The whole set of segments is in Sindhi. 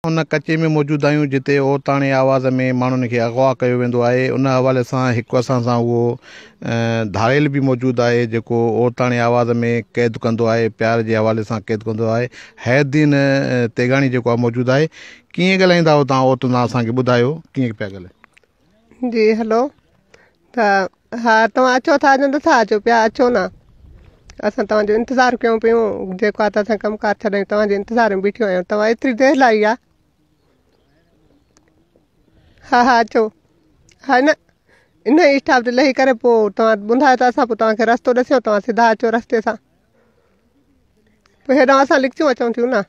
ان ڪچي ۾ موجود آهيون جتي عورتاڻي آواز ۾ ماڻهن کي اغوا ڪيو ويندو آهي ان حوالي سان هڪ اسان سان اهو ڌاڙيل به موجود آهي جيڪو عورتاڻي آواز ۾ قيد ڪندو آهي پيار جي حوالي سان قيد ڪندو آهي حيدين تيغاڻي جيڪو آهي موجود آهي ڪيئن ڳالهائيندا آهيو تون عورتن سان اسان کي ٻڌايو ڪيئن پيا ڳالهايو جي هلو ها ها توهان اچو ٿا جو نٿا اچو پيا اچو نه اسان توهان جو انتظار ڪيون پيون جيڪو آ ته اسان ڪم ڪار ڇڏي توهان جي انتظار ۾ بيٺيون آهيون توهان ايتري دير لاء آ ها ها اچو ها نه ان ئي اسٽاپ تي لهي ڪري پوء توهان ٻڌايو ته اسان پوء توهانکي رستو ڏسيو توهان سڌا اچو رستي سان پوء هيڏانهن اسان لڪچيون اچون ٿيون نه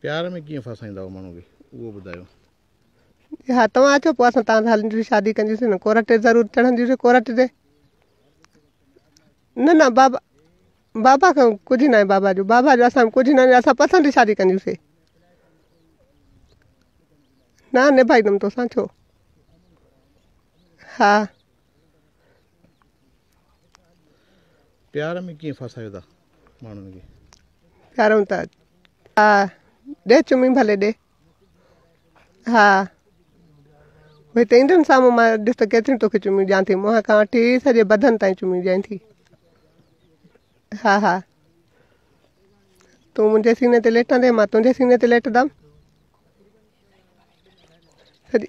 پيار ۾ ڪيئن ڦاسائيندا آهيو ماڻهو کي اهو ٻڌايو. جي ها توهان اچو پوء اسان توهان سان هلنديون شادي ڪنديون نه ڪورٽ تي ضرور چڙهنديون ڪورٽ تي نه نه بابا بابا کان ڪجهه ناهي بابا جو بابا جو اسان ڪجهه ناهي اسان پسند جي شادي ڪنديون نه نڀائيندم توسان ڇو ها پيار ۾ ڪيئن ڦاسايو ٿا ماڻهن کي پيارون ٿا ها ڏي چمي ڀلي ڏي ها وي ته ايندن سامو ما ڏس ته ڪيتري تو کي چمي ڏيان ٿي منهن کان وٺي سڄي بدن تائين چمي ڏيان ٿي ها ها تون منهنجي سيني تي ليٽندي ما تنهنجي سيني تي ليٽندم سڄي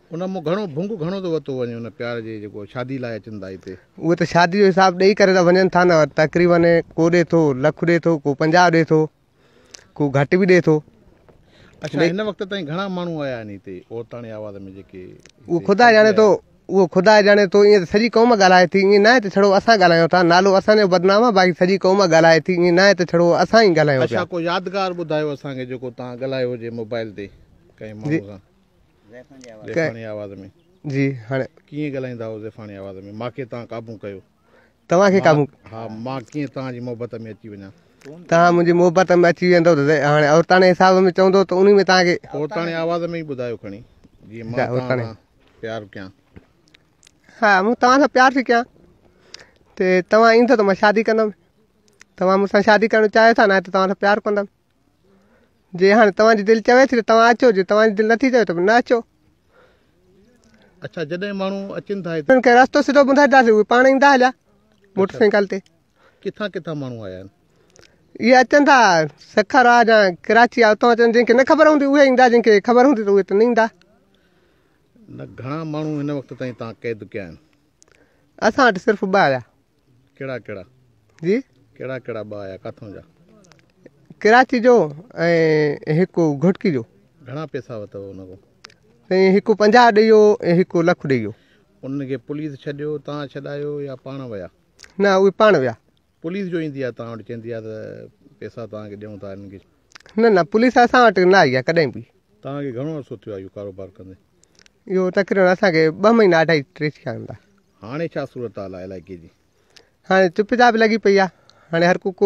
ان مون گهڻو ڀنگ گهڻو ٿو ورتو وڃي ان پيار جي جيڪو شادي لاء اچن ٿا هتي. اهي ته شادي جو حساب ڏئي ڪري ته وڃن ٿا نه تقريبن ڪو ڏي ٿو لک ڏي ٿو ڪو پنجاهه ڏي ٿو ڪو گهٽ به ڏي ٿو. اڇا هن وقت تائين گهڻا ماڻهو آيا آهن هتي عورتاڻي آواز ۾ جيڪي اهو خدا ڄاڻي ٿو اهو خدا ڄاڻي ٿو ائين ته سڄي قوم ڳالهائي ٿي ائين ناهي ته ڇڙو اسان ڳالهايون ٿا نالو اسان جو بدنام آهي باقي سڄي قوم ڳالهائي ٿي ائين ناهي ته ڇڙو اسان ئي ڳالهايون پيا. اڇا ڪو يادگار ٻڌايو اسان کي جيڪو توهان ڳالهايو هجي موبائل تي ڪنهن ماڻهو سان. زيفاڻي آواز ۾. جي هاڻي. ڪيئن ڳالهائيندا هئو زيفاڻي آواز ۾. ماکي تان قابون ڪيو. توهان کي قابون. ها مان ڪيئن توهان جي محبت ۾ اچي وڃان. توهان منهنجي محبت ۾ اچي ويندو ته هاڻي عورتاڻي حساب ۾ چوندو ته انهي ۾ توهان کي. عورتاڻي آواز ۾ ئي ٻڌايو کڻي. جي مان توهان سان پيار ڪيان. ها مون توهان سان پيار ٿي ڪيان. ته توهان ايندو ته مان شادي ڪندم. توهان مون سان شادي ڪرڻ چاهيو ٿا نه ته توهان سان پيار ڪندم. جي هاڻي توهان جي دل چوي ٿي ته توهان اچو جي توهان جي دل نٿي چوي ته نه اچو. اڇا جڏهن ماڻهو اچن ٿا هتي. انهن کي رستو سڌو ٻڌائينداسين اهي پاڻ ايندا هليا موٽر سائيڪل تي. ڪٿان ڪٿان ماڻهو آيا آهن. اهي اچن ٿا سکر آ يا ڪراچي آ اتان اچن جن کي نه خبر هوندي اهي ايندا جن کي خبر هوندي ته اهي ته نه ايندا. نه گهڻا ماڻهو هن وقت تائين تان قيد ڪيا آهن. اسان وٽ صرف ٻه آيا. ڪهڙا ڪهڙا جي ڪهڙا ڪهڙا ٻه آيا ڪاٿون جا ڪراچي جو ۽ هڪ گهٽڪي جو گهڻا پيسا وتو ان کان سائين هڪ 50 ڏيئي ويو ۽ هڪ لک ڏيئي ويو ان کي پوليس ڇڏيو تان ڇڏايو يا پاڻ ويا نه اهي پاڻ ويا پوليس جو ايندي آ تان وٽ چيندي آ ته پيسا تان کي ڏيون ٿا انهن کي نه نه پوليس اسان وٽ نه آئي آ ڪڏهن به تان کي گهڻو عرصو ٿيو آ اهو ڪاروبار ڪندي اهو تقريبا اسان کي ٻه مهينا اڍائي ٽي ٿيا هوندا هاڻي ڇا صورتحال آهي علائقي جي؟ هاڻي چپ چاپ لڳي پئي آهي. هاڻي هر ڪو.